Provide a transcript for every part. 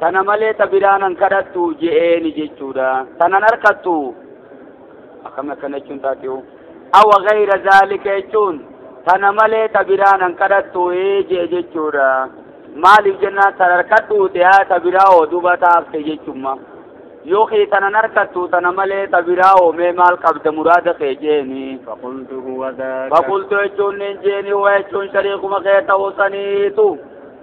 Tana malee ta biraa nan kadhattu je'eeni jechuudha. Tanan harkattu akkami akkana jechuun taatiyu. Awa gayra zaalika jechuun tana malee ta biraa nan kadhattu je'e jechuudha. Maaliif jennaan tan harkadhuu te'aa ta biraa hoo duba taafte jechumma. Yookiin tanan harkattu tana malee ta biraa hoo mee maal qabda muraada kee jeeni. فقلت هو ذاك Fakultu jechuun nin jeeni hoo jechuun shariikuma kee ta'uu saniitu.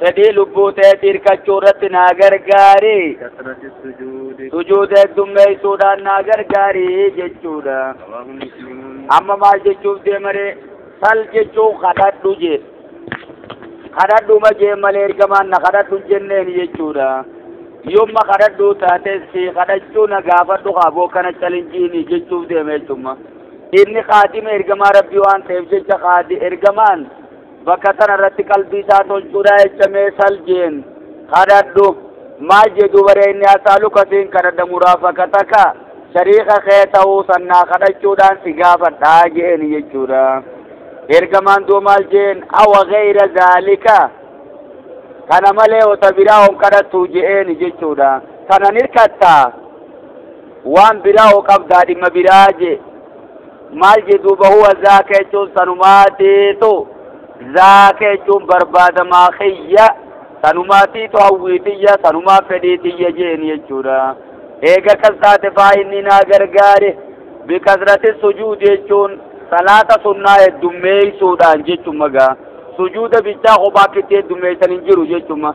fedhii lubbuu teetii hirkachuu irratti naa gargaari sujuuda heddummeessuudhaan naa gargaari jechuudha amma maal jechuuf deemaree sal jechuun kadhadhu jee kadhadhuma jee malee ergamaan na kadhadhu jenneen jechuudha yomma kadhadhu taates si kadhachuu na gaafadhu kaaboo kana calinjiini jechuuf deeme jechumma inni kaadima ergamaa rabbii waan ta'eef jecha kaadi ergamaan bakka kana irratti qalbii isaa tolchuudha jecha mee saljiin kadhadhu maal jee duuba ree inni asaaluka siin kadhadha muraafaqataka shariika kee ta'uu sannaa kadhachuudhaan si gaafadhaa jeeni jechuudha ergamaan duuba maal jeen awa gayra zaalika kana malee wata biraa on kadhattu jeeni jechuudha kanan hirkattaa waan biraa hoo qabdaa dhimma biraa jee maal jee duuba huwa zaaka jechuun sanumaatiitu zaaka jechuun barbaadamaa kiyya sanumaatiitu hawwii tiyya sanumaa fedhii tiyya jeen jechuudha eega kas taate faa inni naa gargaare bikasrati sujuud jechuun salaata sunnaa heddummeeysuudhaan jechumma gaa sujuuda bichaa kophaa kitti heddummeeysan hin jiru jechumma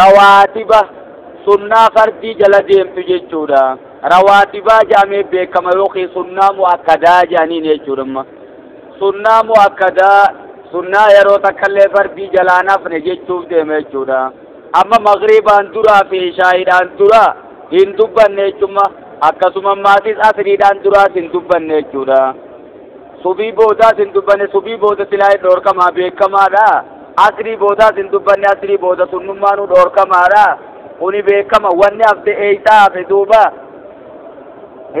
Rawaatiba, Sunnaa fardii jala deemtu jechuudha. Rawaatibaa jedhamee beekama yookiin sunnaa mu'akkadaa jedhaniin jechuudha amma. Sunnaa mu'akkadaa sunnaa yeroo takkallee fardii jalaan hafne jechuuf deema jechuudha. Amma magriibaan duraa fi ishaa'iidhaan dura hin dubbanne jechuudha. Akkasuma maatis asriidhaan duraas hin dubbanne jechuudha. Subii boodaas hin dubbanne, subii booda silaa hin dhoorkamaa beekkamaadha. Asrii boodaas hin dubbanne, asrii booda sunnummaanuu dhoorkamaadha. Kuni beekkama. Wanni hafte eeysaa hafe duuba?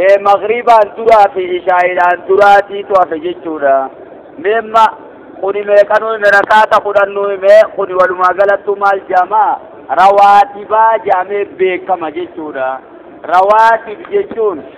Ee maghribaan duraa fi ishaa'iidhaan duraatiitu hafe jechuudha. Meemma kuni meeqanuu hime rakaata kudhannuu hime kuni walumaa galattuu maal jaama? Rawaatibaa jaamee beekkama jechuudha. Rawaatib jechuun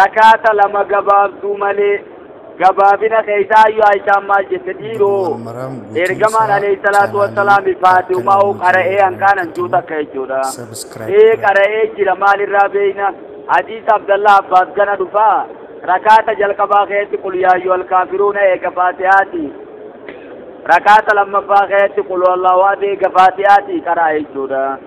Rakaata lama gabaabduu malee. Gabaabina keessaa ayyu Aishaan maal jette dhiiroo ergamaan alayhi salaatu wassalaami faatiumaa'u qara'ee hanqaanan juu takka jechuudha. Ee qara'ee jira maalirraa beeyna hadiisa Abdallah Abbaas gana dhufaa rakaata jalqabaa keessatti qul yaayyu alkaafiruuna eega faatihaati. Rakaata lammaffaa keessatti qul wallahu eega faatihaati qara'a jechuudha.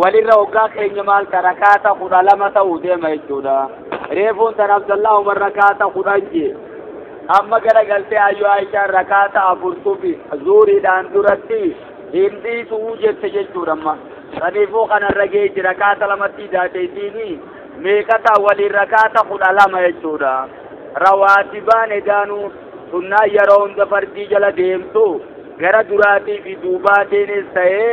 walirra hoggaa keenya maal ta rakaata kudha lama ta'u deema jechuudha reefuun tan abdallah umar rakaata kudhan jee amma gara galtee ayyo aishaan rakaata afurtufi zuuriidhaan duratti hin dhiisuu jette jechuudha amma saniifuu kanarra geechi rakaata lamatti daateetiini meeqata waliin rakaata kudha lama jechuudha rawaatibaan edaanuu sunnaa yeroo hunda fardii jala deemtu gara duraatii fi duubaatiinis ta'ee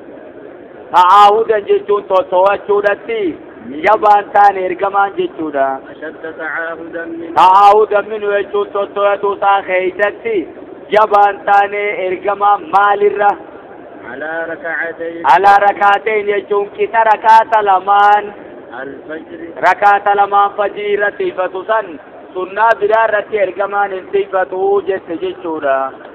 Ta'aahudan jechuun toltowachuudhatti jabaan taan ergamaan jechuudha. Ta'aahudan minu jechuun toltowatuu isaa keessatti jabaan taanee ergamaa maalirra? Alaa rakaateen jechuun qixa rakaata lamaan rakaata lamaan fajrii irratti ifatu san sunnaa biraa irratti ergamaan hin xiifatu jette jechuudha.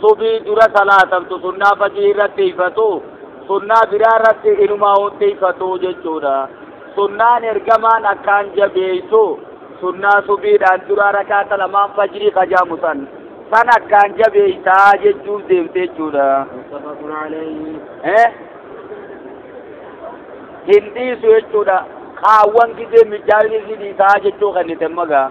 Subii dura salaatamtu sunnaa fajrii irratti tiifatu sunnaa biraa irratti inumaa hin tiifatu jechuudha. Sunnaan ergamaan akkaan jabeessu sunnaa subiidhaan duraa rakaata lamaan fajrii kajaamu san san akkaan jabeessaa jechuun deemte jechuudha. Hin dhiisu jechuudha. Kaawwan gidee mijaa'inni dhiisaa jechuu kennite magaa.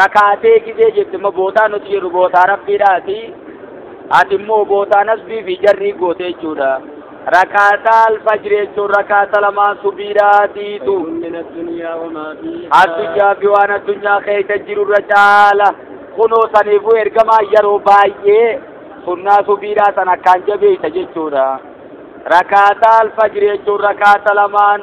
Rakaatee gizee jette immoo bootaa nuti jedhu bootaa rabbiidhaati. Ati immoo bootaa nasbii fi jarrii goote jechuudha. Rakaataa alfajri jechuun rakaata lamaan subiidhaatiitu. Addunyaa fi waan addunyaa keessa jiru irra caala. Kunoo saniifuu ergamaa yeroo baay'ee sunnaa subiidhaa san akkaan jabeessa jechuudha. Rakaataa alfajri jechuun rakaata lamaan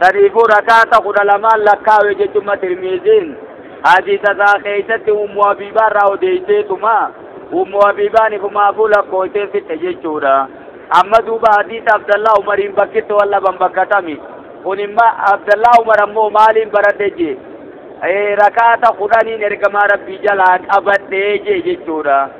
saniifuu rakaata kudha lamaan lakkaawe jechumma tirmiiziin hadiisa isaa keeysatti ummu abiibaa irraa odeeyseetuma ummu abiibaan ifumaafuu lakkooysee fixxe jechuudha amma duuba hadiisa abdallaa umariin bakkitti wal dhaban bakkatami kun imma abdallaa umar ammoo maaliin baradhe jee rakaata kudhaniin ergamaa rabbii jalaa qabadhee jee jechuudha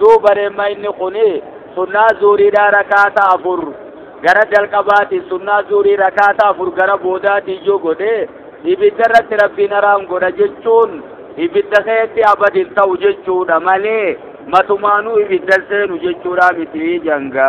duuba reemma inni kuni sunnaa zuuriidhaa rakaata afur gara jalqabaatiin sunnaa zuurii rakaata afur gara boodaatiin yoo godhe ibidda irratti rabbiin haraam godha jechuun ibidda keessatti abadin ta'u jechuudha malee matumaanuu ibiddan seenu jechuudha miti janga.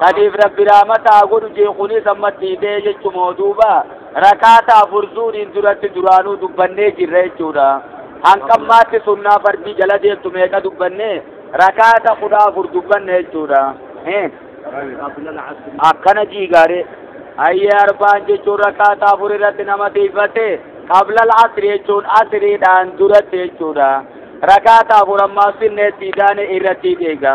sadiif rabbi raamataa godhu jee kunis ammatti hidhee jechumoo duuba rakaata afur zuuriin duratti duraanuu dubbannee jirra jechuudha hanqammaatti sunnaa fardii jala deemtu meeqa dubbanne rakaata kudha afur dubbanne jechuudha akkana jiigaare ayyee arbaan jechuun rakaata afur irratti nama tiifate qabla asri jechuun asriidhaan duratti jechuudha rakaata afur ammaa sinneetti idaane irratti deega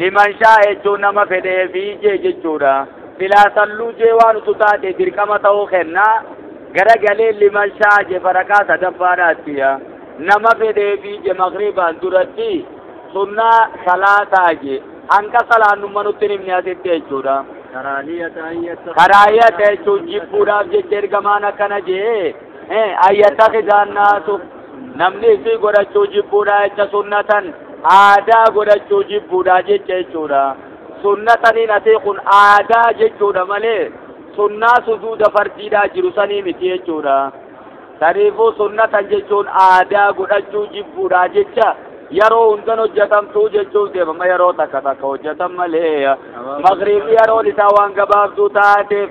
Liman shaa'a jechuun nama fedheefi jee jechuudha. Silaa salluu jee waan utu taate dirqama ta'uu kenna. Gara galee liman shaa'a je farakaa sadaffaadhaattiya. Nama fedheefi je maqribaan duratti sunnaa salaataa je. Hanqa salaannumma nutti hin himne asitti jechuudha. Karaahiyata jechuun jibbuudhaaf jecha ergamaan akkana jee. ayyattakhidaan naasu namni isii godhachuu jibbuudha jecha sunnatan aadaa godhachuu jibbuudha jecha jechuudha sunnataniin asii kun aadaa jechuudha malee sunnaa sujuuda fardiidhaa jiru sanii miti jechuudha saniifuu sunnatan jechuun aadaa godhachuu jibbuudha jecha yeroo hundan hojjetamtuu jechuuf deemama yeroo takka takka hojjetan malee magriibii yeroon isaa waan gabaabduu taateef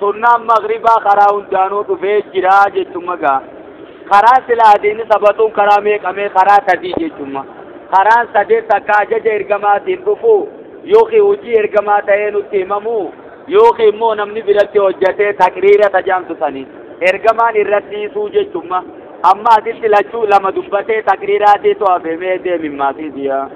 sunnaan magribaa karaa hundaanuu dhufee jira jechumma gaa karaa sila adiini sabatuun karaa meeqamee karaa sadii jechumma karaan sadee takka ajaja ergamaatiin dhufuu yookiin hojii ergamaa ta'ee nutti himamuu yookiin immoo namni biratti hojjatee taqriira tajaamtu sanii ergamaan irratti dhiisuu jechumma amma asitti lachuu lama dubbatee taqriiraatii to'afemee deemimmaatiitiyaa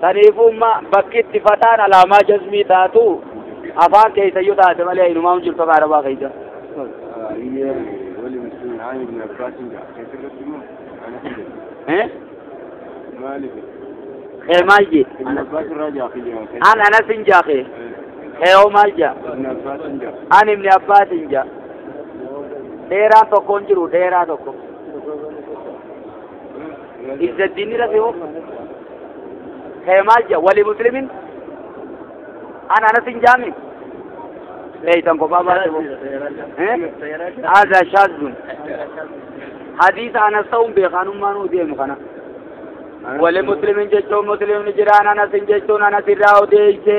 Saniifuu imma bakki itti fataan alaamaa jazmii taatu afaan keessayyuu taate malee inumaa hin jirtu afaan arabaa keessa. Ayyee wali muslimin aani ibn Abbaasin ja'a. Keessatti immoo ana hin jedhu. Eh? Maaliif? Kee maal jee? Ibn Abbaas irraa ja'a kiyyaa. An anas hin jaake. Kee hoo maal jaa? Ibn Abbaas hin ja'a. An ibni abbaas hin jaa. Dheeraan tokko hin jiru dheeraa tokko. izzaddiinni rafe hoo ka'e maal jedha wali muslimin an anasin jaami leeytan kophaa baate hoo haadaa shaazun hadiisa anas ta'uun beekaanummaan hoo deemu kana wali muslimin jechuun muslimni jiraan anasin jechuun anas irraa odeeyse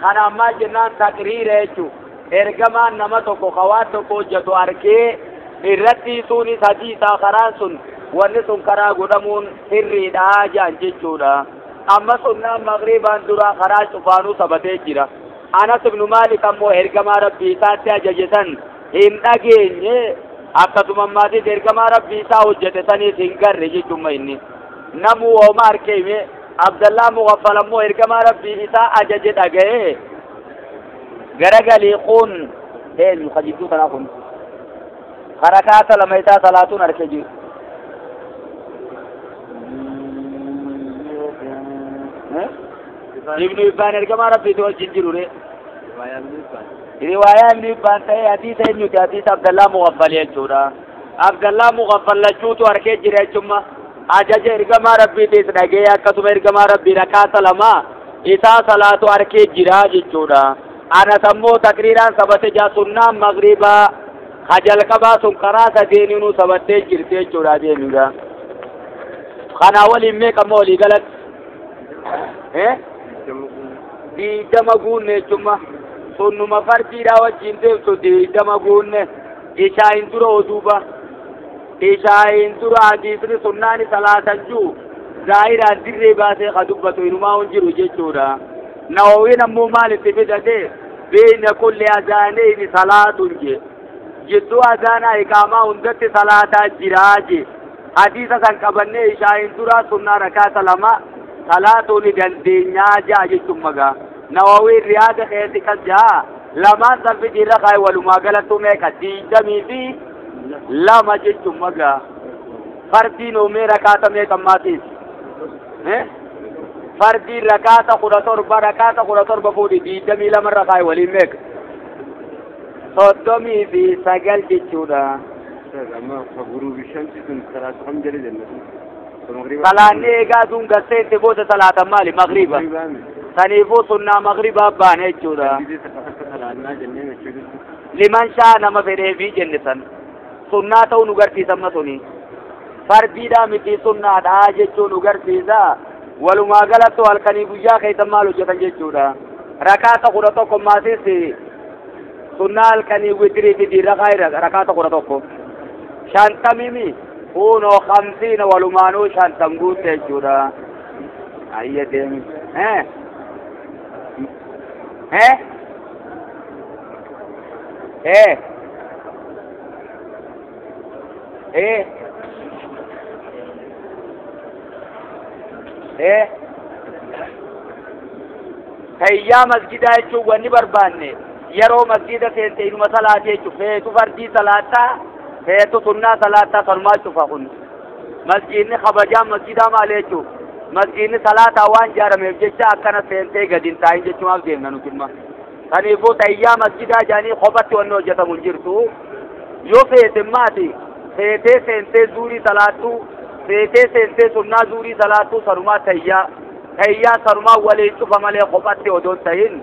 Kanaan maal jennaan taqriira jechuun ergamaan nama tokko ka waan tokko hojjetu arkee irratti suunis hadiisaa karaan sun wanni sun karaa godhamuun sirriidha jaan jechuudha. Amma sunnaan maqribaan duraa karaa cufaanuu sabatee jira. Anas ibnu Maalik ammoo ergamaa rabbii isaatti ajaje san hin dhageenye akkasuma maatis ergamaa rabbii isaa hojjete saniis hin garre jechuun inni namuu hooma arkee Abdallaan Mughaffal ammoo ergamaa Rabbii isaa ajaje dhaga'ee garagalii kun eenyu ka jidduu tanaa kun harakaata lama isaa salaatuun harkee jiru. Ibnu Ibbaan ergamaa Rabbiitu wajjin jiru ree. Riwaayaa Ibnu Ibbaan ta'ee hadiisa eenyuti hadiisa Abdallaa Mughaffal jechuudha. Abdallaa Mugaffal lachuutu arkee jire achumma. Ajaja ergamaa Rabbiitiis dhagee akkasuma ergamaa Rabbii rakaa salamaa isaa salaatu arkee jira jechuudha. Anas ammoo takriiraan sabate jaa sunnaa magribaa ha jalqabaa sun karaa sadeeniinuu sabattee jirti jechuudha adeemiga. Kanaa waliin meeqa ammoo walii galatti? Eh? Diidama guunne jechumma. Sunnuma fardiidhaa wajjin deemtu diidama guunne. Ishaa'iin dura oduuba ishaa'iin dura hadiisni sunnaani salaatan jiru zaahiraa dirree baasee ka dubbatu inumaa hin jiru jechuudha nawawiin ammoo maal itti fidate beeyna kulli azaaneyni salaatun je jidduu azaanaa iqaamaa hundatti salaataa jiraa je hadiisa san qabannee ishaa'iin duraa sunnaa rakaata lama salaatuu ni dandeenyaa ja'a jechuun magaa nawawiin riyaada keessa kan ja'a Lamaan salfiti irra kaa'e walumaa galattuu meeqa? Diidamii fi lama jechuun magaa. Fardiin oomee rakaata meeqa maatiif? Fardiin rakaata kudha torba rakaata kudha torba fuudhi diidamii lama irra kaa'e waliin meeqa? Soddomii fi sagal jechuudha. Amma guruubi shanti kun salaatu kam jedhe jennatu. Salaanni eegaa aduun gad seente booda salaatan maali? Magriba. Saniifuu sunnaa magribaa baana jechuudha. Liman shaa nama fedheefii jenne san. Sunnaa ta'uu nu garsiisa amma suni. Fardiidhaa miti sunnaadhaa jechuun nu garsiisa. Walumaa galatti halkanii guyyaa keessan maal hojjetan jechuudha. Rakaata kudha tokko maasis sunnaa halkanii witiriifi diirrakaa irra rakaata kudha tokko. Shantamimi. Kuunoo kamsiina walumaanuu shantam guutte jechuudha. Ayya deemi. Eh? Eh? Eh? Eh? Eh? Tayyaa masgidaa jechuun wanni barbaanne yeroo masgida seente inuma salaatee jechuun feetu fardii salaattaa Heetu sunnaa salaataa kanumaa cufa kun. Masjiidni kabajaan masjiidaa maali jechuu? Masjiidni salaataa waan jaarameef jecha akkana seentee gadi hin taa'in jechumaaf deemna nuti imma. Kaniifuu tayyaa masjiidaa jaanii kophatti wanni hojjetamu hin jirtu. Yoo feete maati feetee seentee zuurii salaattuu feetee seentee sunnaa zuurii salaattuu sanumaa tayyaa tayyaa sanumaa waliin cufa malee kophatti odoo hin ta'in.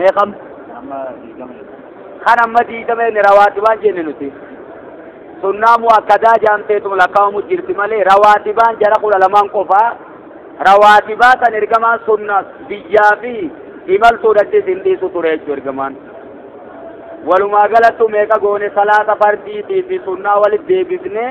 meeqam kan amma diigama inni rawaatibaan jenne nuti sunnaa mu'akkadaa jaamteetum lakkaa'amu jirti malee rawaatibaan jara kudha lamaan qofaa rawaatibaa san ergamaan sunna biyyaa fi imaltuudhattis hin dhiisu ture jechuu ergamaan walumaa galattu meeqa goone salaata fardiitii fi sunnaa walitti deebifnee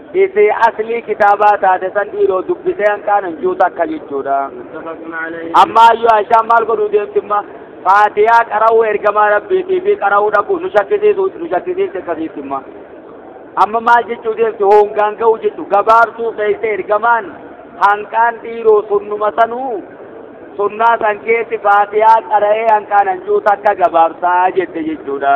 Isi aslii kitaabaa taate san dhiiroo dubbisee hanqaan hin jiru takka jechuudha. متفق عليه Amma ayyu Aishaan maal godhuu deemtimma? Faatiyaa qara'uu ergamaa rabbiitii fi qara'uu dhaquu nu shakkisiisu nu shakkisiifte akkasiittimma. Amma maal jechuu deemti hoongaan ga'uu jechu gabaabsuu keessa ergamaan hanqaan dhiiroo sunnuma sanuu sunnaa san keessi faatiyaa qara'ee hanqaan hanjuu takka gabaabsaa jette jechuudha.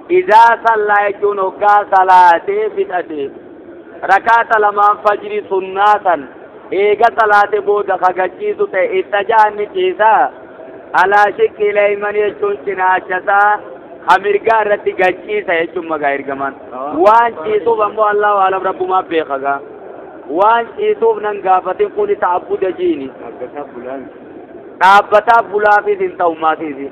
Izaa sallaa jechuun hoggaa salaatee fixate rakaata lamaan fajri sunnaa san eega salaate booda kagachiisu ta'e ittaja'an ni ciisa alaa shiqqi leeyman jechuun cinaachasaa ka mirgaa irratti gachiisa jechuun magaa ergamaan waan ciisuuf ammoo allahu alam rabbumaa beekagaa waan ciisuuf nan gaafatin kuni ta'abbuda jiini dhaabbataa bulaafis hin ta'u maatiisi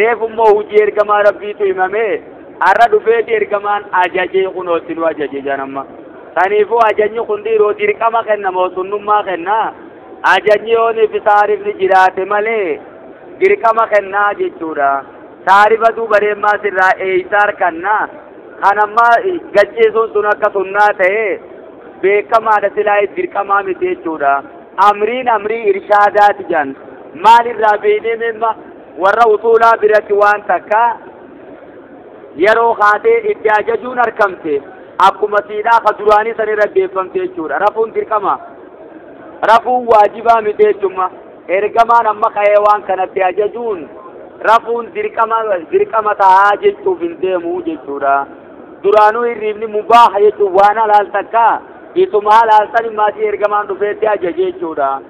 Reefu immoo hujii ergamaa rabbiitu himame har'a dhufeeti ergamaan ajajee kunootti nu ajaje jedhan amma saniifuu ajajni kun dhiiroo dirqama kenna moo sunnummaa kenna ajajni yoonii fi taarifni jiraate malee dirqama kennaa jechuudha taarifa duuba deemaa sirraa eeysa harkanna kan amma gachiisuun sun akka sunnaa ta'e beekamaadha silaa dirqamaa miti jechuudha amriin amrii irshaadaati jedhan maalirraa beeknee mimma warra usuulaa biratti waan takka yeroo kaatee itti ajajuun arkamte akkuma siidhaa ka duraanii san irra deeffamte jechuudha rafuun dirqama rafuun waajibaa miti jechumma ergamaan amma ka'ee waan kanatti ajajuun rafuun dirqama dirqama ta'aa jechuuf hin deemu jechuudha duraanuu hirriibni mubaaha jechuun waan halaal takka isuma halaal san maatii ergamaan dhufeetti ajaje jechuudha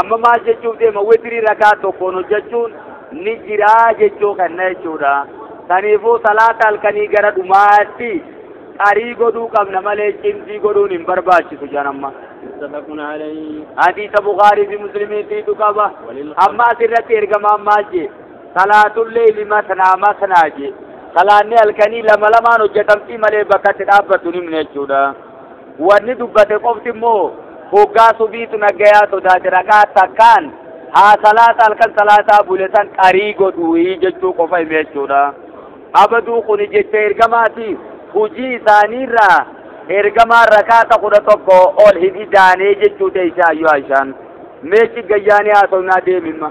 Amma maal jechuuf deema witrii rakaa tokkoon hojjechuun ni jiraa jechuu kenna jechuudha. Kaniifuu salaata halkanii gara dhumaatti qarii godhuu qabna malee cimdii godhuun hin barbaachisu jedhan amma. متفق عليه Hadiisa Bukaarii fi Muslimiitiitu qaba. Amma asirratti ergamaan maal jee? Salaatullee limatnaa matnaa jee. Salaanni halkanii lama lamaan hojjetamtii malee bakka itti dhaabbatu hin himne jechuudha. Wanni dubbate qofti immoo hoggaa subiitu naggayaa sodaate raka'aa takkaan haa salaata halkan salaataa bule san qarii godhuuyi jechuu qofa hime jechuudha. Abaduu kuni jecha ergamaati hujii isaaniirraa ergamaa rakaata kudha tokko ol hin idaanee jechuu teeysa ayyoo Aishaan. Mee ciggayyaanii haasofnaa deemimma.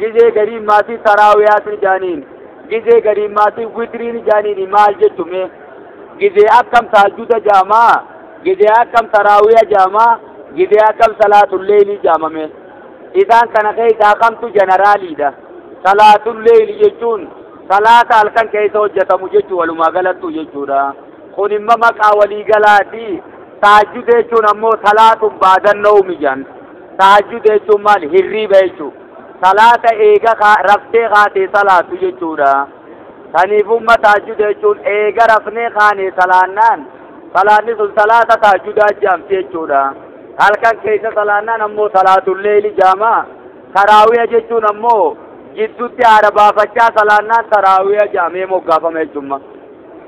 Gizee gariin maatii taraawiyaatiin jaaniin gizee gariin maatii witiriin jaaniin maal jechu mee gizee akkam taajjuda jaamaa gizee akkam taraawiya jaamaa gizee akkam salaatulleelii jaamame isaan kana keessaa kamtu jeneraaliidha salaatulleelii jechuun salaata halkan keessa hojjetamu jechuu walumaa galattu jechuudha kun imma maqaa walii galaati taajjuda jechuun ammoo salaatun baadannoo mijaan Tahajjuda jechuun maali? Hirriiba jechuudha. Salaata eega raftee kaatee salaatu jechuudha. Saniifumma tahajjuda jechuun eega rafnee kaanee salaannaan salaanni sun salaata tahajjudaa jaamti jechuudha. Halkan keessa salaannaan ammoo salaatul leeyli jaama. Taraawiya jechuun ammoo jidduutti haara baafachaa salaannaan taraawiya jaamee moggaafama jechuudha.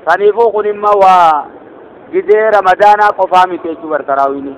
Saniifuu kun immoo waa gizee ramadaanaa qofaa miti jechuudha taraawiini.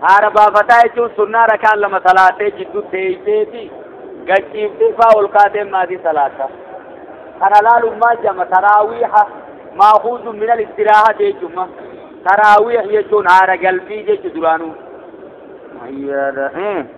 haara baafataa jechuun sunnaa rakaan lama salaatee jiddu teeyseeti gachiiftee faa ol kaatee maatii salaata kana laalummaa jama taraawiiha maakuuzu minal istiraaha jechuuma taraawiih jechuun haara galbii jechu duraanuu.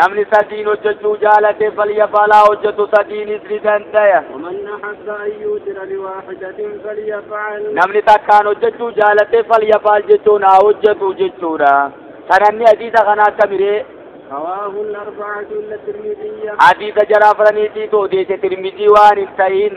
namni sadiin hojjechuu jaalate falyafalaa hojjetu sadiinis ni dandaya namni takkaan hojjechuu jaalate falyafaal jechuun haa hojjetu jechuudha sananni hadiisa kana akka miree hadiisa jaraa faraniitiitu odeesse tirmidii waan hin ta'in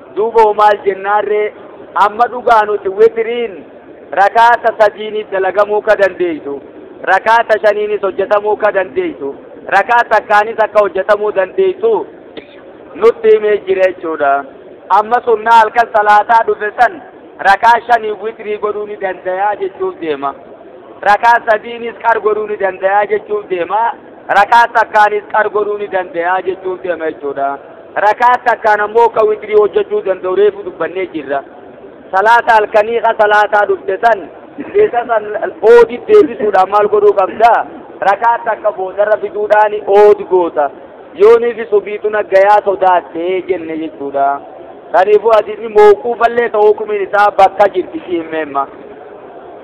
Duuba hoo maal jennaan ree? Amma dhugaa nuti witiriin rakaata sadiini dalagamuu ka dandeeytu, rakaata shaniinis hojjatamuu ka dandeeytu, rakaa takkaanis akka hojjatamuu dandeeytu nutti himee jira jechuudha. Amma sunnaa halkan salaataa dhufe san rakaa shanii witrii godhuu ni dandayaa jechuuf deema. Rakaa sadiinis qar godhuu ni dandayaa jechuuf deema. Rakaa takkaanis qar godhuu ni dandayaa jechuuf deema jechuudha. Rakaat takkaan ammoo ka witrii hojjachuu danda'u reefu dubbannee jirra. Salaata halkanii ka salaataa dhufte san keessa san oodi deebisuudhaan maal godhuu qabda? Rakaat takka boodarra fiduudhaan ood goota. Yooniif subiitu naggayaa sodaattee jenne jechuudha. Kaniifuu hadiisni mawquufallee ta'uu hukumiin isaa bakka jirti si himmeemma.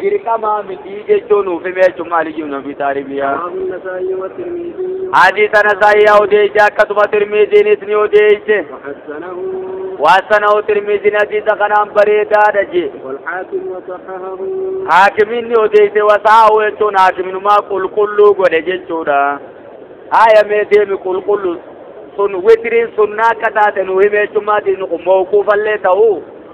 dirqamaa mitii jechuu nuuf hime jechuun maaliyyuu nabi taaribiyaa. Hadiisa Nasaa'iyaa odeeyse akkasuma Tirmiiziinis ni odeeyse. Waasanahu Tirmiiziin hadiisa kanaan bareedaadha jee. Haakimiin ni odeeyse wasaa'u jechuun haakiminumaa qulqulluu godhe jechuudha. Haaya mee deemi qulqulluu sun witiriin sunnaa akka taate nu hime jechuun maati nu mawquufallee ta'uu.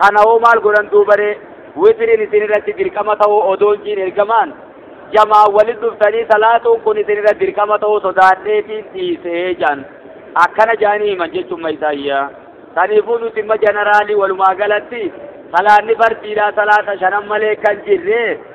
Kana hoo maal godhan duubaree? Witiriin isin irratti dirqama ta'uu odoo hin jiin ergamaan jamaan walit dhuftanii salaatuun kun isin irra dirqama ta'uu sodaadheetiin dhiisee jaan akkana jaanii himan jechuun mayisaayyaa saniifuu nuti imma janaraalii walumaa galatti salaanni fardiidhaa salaata shanan malee kan jirree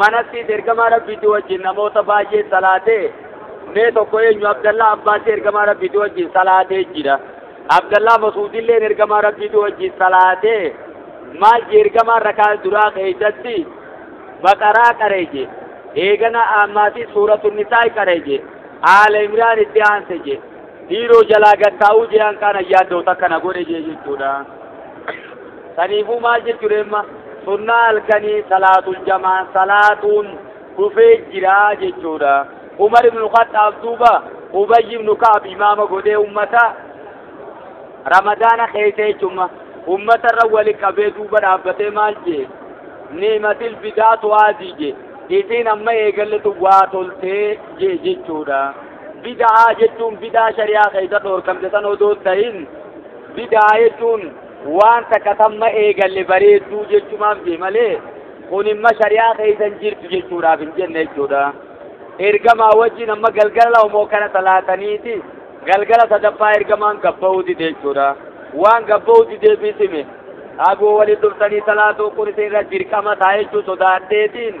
manattiis ergamaa rabbiitii wajjin namoota baay'ee salaatee mee tokko eenyu abdallaa abbaasii ergamaa rabbiitii wajjin salaatee jira abdallaa masuudilleen ergamaa rabbiitii wajjin salaatee maal je ergamaa rakaa duraa keeysatti baqaraa qaree je eegana ammaatii suuratu nisaa qaree je aala imraan itti aanse je biiroo jalaa gad taa'uu jean kaan ayyaadoo takka na godhe jee jechuudha saniifuu maal jechuudha amma sunnaa halkanii salaatul jamaa salaatuun dhufee jira jechuudha umar ibnu khaxaab duuba ubayy ibnu ka'ab imaama godhee ummata ramadaana keessa jechuudha ummata irra wali qabee duuba dhaabbatee maal jee niimatil bidaatu haadii jee isiin amma eegalletu waa toltee jee jechuudha Bida'aa jechuun bid'aa shari'aa keessa dhoorkamte san odoo hin ta'in bida'aa jechuun waan takka tamma eegalle bareedduu jechumaaf jee malee kun imma shari'aa keessa hin jirtu jechuudhaaf hin jenne jechuudha. Ergamaa wajjin amma galgala homoo kana salaataniiti galgala sadaffaa ergamaan gabba'uu dide jechuudha. Waan gabba'uu dideefis hime. Agoo waliin dhuftanii salaatuu kun isin irra dirqama ta'a jechuu sodaadheetiin.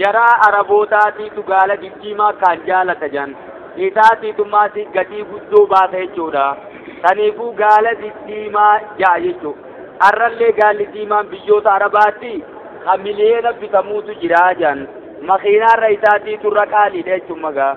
Jaraa Arabootaatiitu gaala diddiimaa akkaan jaalata jedhan. Isaatiitu immoo gatii guddoo baasa jechuudha. Saniifuu gaala diddiimaa ja'a jechuudha. Har'allee gaalli diimaan biyyoota Arabaatti kan miliyoona bitamuutu jira jedhan. Makiinaarra isaatiitu irra qaaliidha jechuun magaa.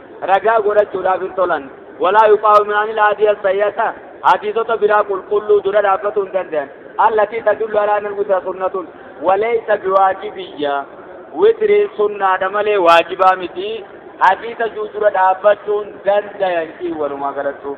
ragaa godhachuudhaaf hin tolan walaa yuqaawimaani laadiya sayyata hadiisota biraa qulqulluu dura dhaabbatuu hin danda'an allatii tadullu alaa nan witra sunnatun waleeysa biwaajibiyya witriin sunnaadha malee waajibaa miti hadiisa juu dura dhaabbachuun dandayan kii walumaa galattuu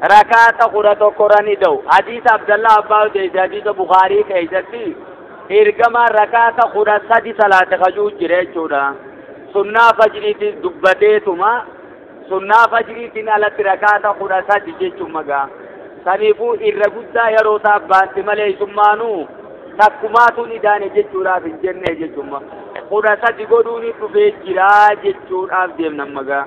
rakaata kudha tokkorra ni ta'u hadiisa abdallah abbaa odeesse hadiisa bukaarii keessatti ergamaan rakaata kudha sadi salaate kajuu jira jechuudha sunnaa fajriitis dubbateetuma sunnaa fajriitiin alatti rakaata kudha sadi jechuun magaa saniifuu irra guddaa yeroo isaa baanti malee isummaanuu takkumaatuun idaane jechuudhaaf hin jenne jechuun kudha sadi godhuun dhufee jiraa jechuudhaaf deemnan magaa.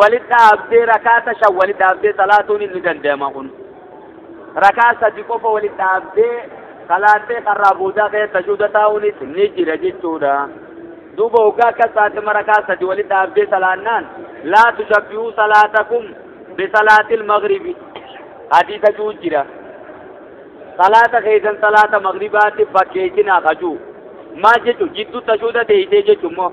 Walitti dhaabdee rakaata shan walitti dhaabdee salaatuun inni danda'ama kun. Rakaa sadi qofa walitti dhaabdee salaattee karraa boodaa kee tajuuda taa'uunis ni jira jechuudha. Duuba hoggaa akkas taate marakaa sadi walitti dhaabdee salaannaan laa tushabbihuu salaatakum bisalaatil magribi hadiisa juu jira. Salaata keessan salaata magribaatti fakkeessinaa kajuu. Maal jechuun jidduu tajuuda teessee jechuun moo.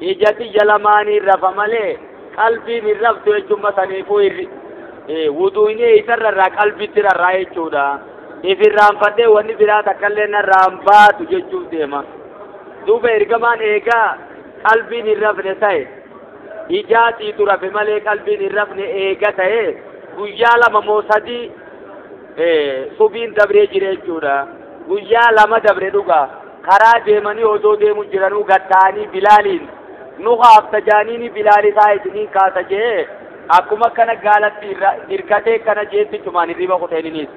ija tiyya lamaaniin rafa malee qalbiin hin raftu jechuun masaniifuu irri wuduuyni eessarra irraa qalbitti rarraa jechuudha. Ifirraanfadhee wanni biraa takkallee narraan baatu jechuuf deema. Duuba ergamaan eegaa qalbiin hin rafne ta'e ijaatiitu rafe malee qalbiin hin rafne eega ta'e guyyaa lama moo sadii subiin dabree jira jechuudha. Guyyaa lama dabre dhugaa. karaa deemanii odoo deemu jiranuu gad ta'anii bilaaliin nu kaafta jaaniini bilaal isaa isiniin kaasa jee akkuma akkana gaalatti irra hirkatee kana jeetti cumaan hirriba kuteeniniis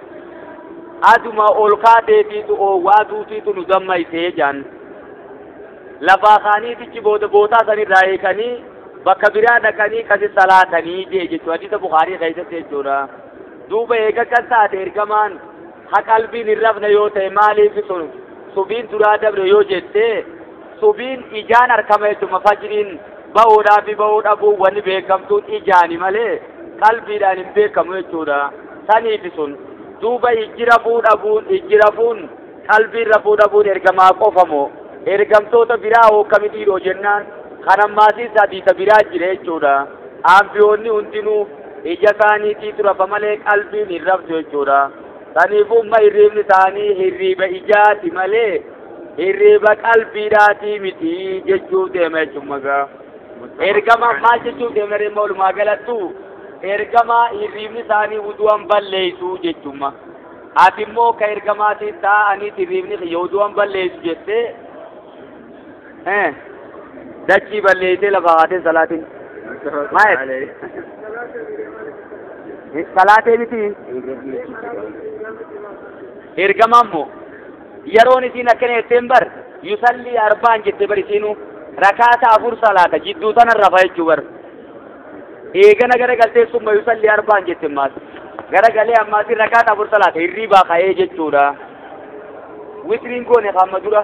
aduma ol kaateetiitu oowwaa duutiitu nu dammaysee jaan lafaa kaaniitichi booda bootaa sanirraa eekanii bakka biraa dhaqanii kasi salaatanii jee jechuu hadiisa bukaarii keessatti jechuudha duuba eega kan taate ergamaan Ha qalbiin hin rafne yoo ta'e maaliif sun subiin duraa dabre yoo jette subiin ijaan harkama jechuudha fajriin ba'uudhaa fi ba'uu dhabuu wanni beekamtuun ijaani malee qalbiidhaan hin beekamu jechuudha saniifi sun duuba ijji rafuu dhabuun ijji rafuun qalbiin rafuu dhabuun ergamaa qofa moo ergamtoota biraa hookkamitiidhoo jennaan kan ammaasii sadiisa biraa jira jechuudha aanbiyoonni hundinuu ija isaaniitiitu rafa malee qalbiin hin raftu jechuudha. Saniifuu ma hirriibni isaanii hirriiba ijaati malee hirriiba qalbiidhaatii miti jechuu deema jechuun magaa. Ergama maal jechuu deemna dhimma walumaa galattu ergama hirriibni isaanii wudu'an balleessu jechuudha. Ati immoo ka ergamaatiin taa'aniiti hirriibni kiyya wudu'an balleessu jettee Eh. Dachii balleessee lafa haatee salaatiin. Maayet. Salaatee miti. Ergamaan moo. Yeroon isiin akkana jetteen bar. Yusallii arbaan jette bar isiinuu. Rakaata afur salaata jidduu tana rafa jechuu bar. Eegana gara galtee summa yusallii arbaan jette ammaas. Gara galee ammaas rakaata afur salaata hirriibaa ka'ee jechuudha. Witriin goone hamma dura.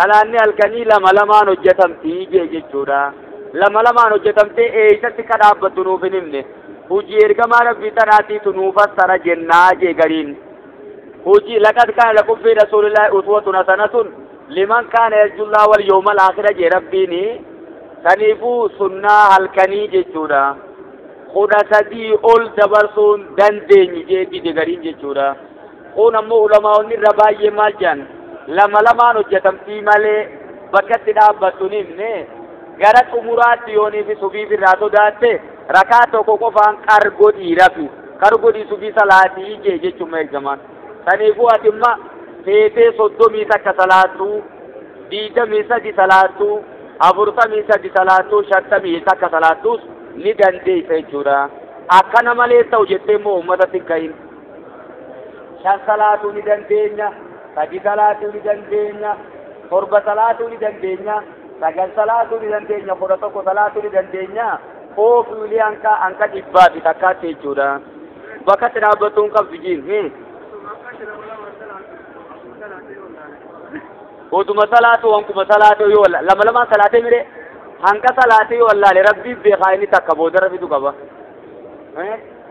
Salaanni halkanii lama lamaan hojjetamti jee jechuudha. Lama lamaan hojjetamtee eeysatti ka dhaabbattu nuuf hin himne. Hujii ergamaa rabbii tanaatiitu nuu fassara jennaa jee gariin. Hujii laqad kaana lakum fi rasuulillaahi uswatun hasanatun liman kaana yarjullaa wal yawmal aakhira jee rabbiini. Saniifuu sunnaa halkanii jechuudha. Kudha sadii ol dabarsuun dandeenyu jee dide gariin jechuudha. Kun ammoo ulamaa'onni irra baay'ee maal jedhan lama lamaan hojjetamtii malee bakka itti dhaabbattu ni himne gara xumuraatti yoonii fi subiif irraa sodaatte rakaa tokko qofaan qar godhii rafi qar godhii subii salaatii ijee jechuun ergamaan saniifuu ati imma feetee soddomii takka salaattu diidamii sadi salaattu afurtamii sadi salaattu shantamii takka salaattus ni dandeessa jechuudha akkana malee ta'u jettee immoo uummatatti hin ka'in. shan salaatuu ni dandeenya sadi salaatuu ni dandeenya torba salaatuu ni dandeenya sagal salaatuu ni dandeenya kudha tokko salaatuu ni dandeenya oofuli hanqa hanqa dhibbaa fi takkaatti jechuudha bakka itti dhaabbattuu hin qabdu jiin hmm. oduma salaatuu wankuma salaatuu yoo walla- lama lamaan salaatee mire hanqa salaatee yoo wallaale rabbii beekaa inni takka boodarra fidu qaba Eh?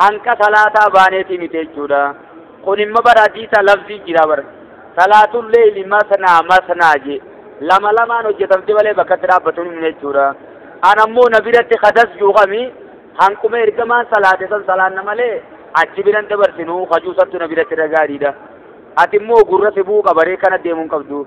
hanqa salaataa baaneetii miti jechuudha kun imma bara hadiisa lafzii jira bara salaatun leeyli masnaa masnaa jee lama lamaan hojjetamte malee bakkatti dhaabbatuun hin jechuudha an ammoo na biratti kadas juuqami hanquma ergamaan salaate san salaanna malee achi biran dabarsinu kajuusattu na biratti dhagaadhiidha ati immoo gurra sibuu qabaree kana deemuun qabdu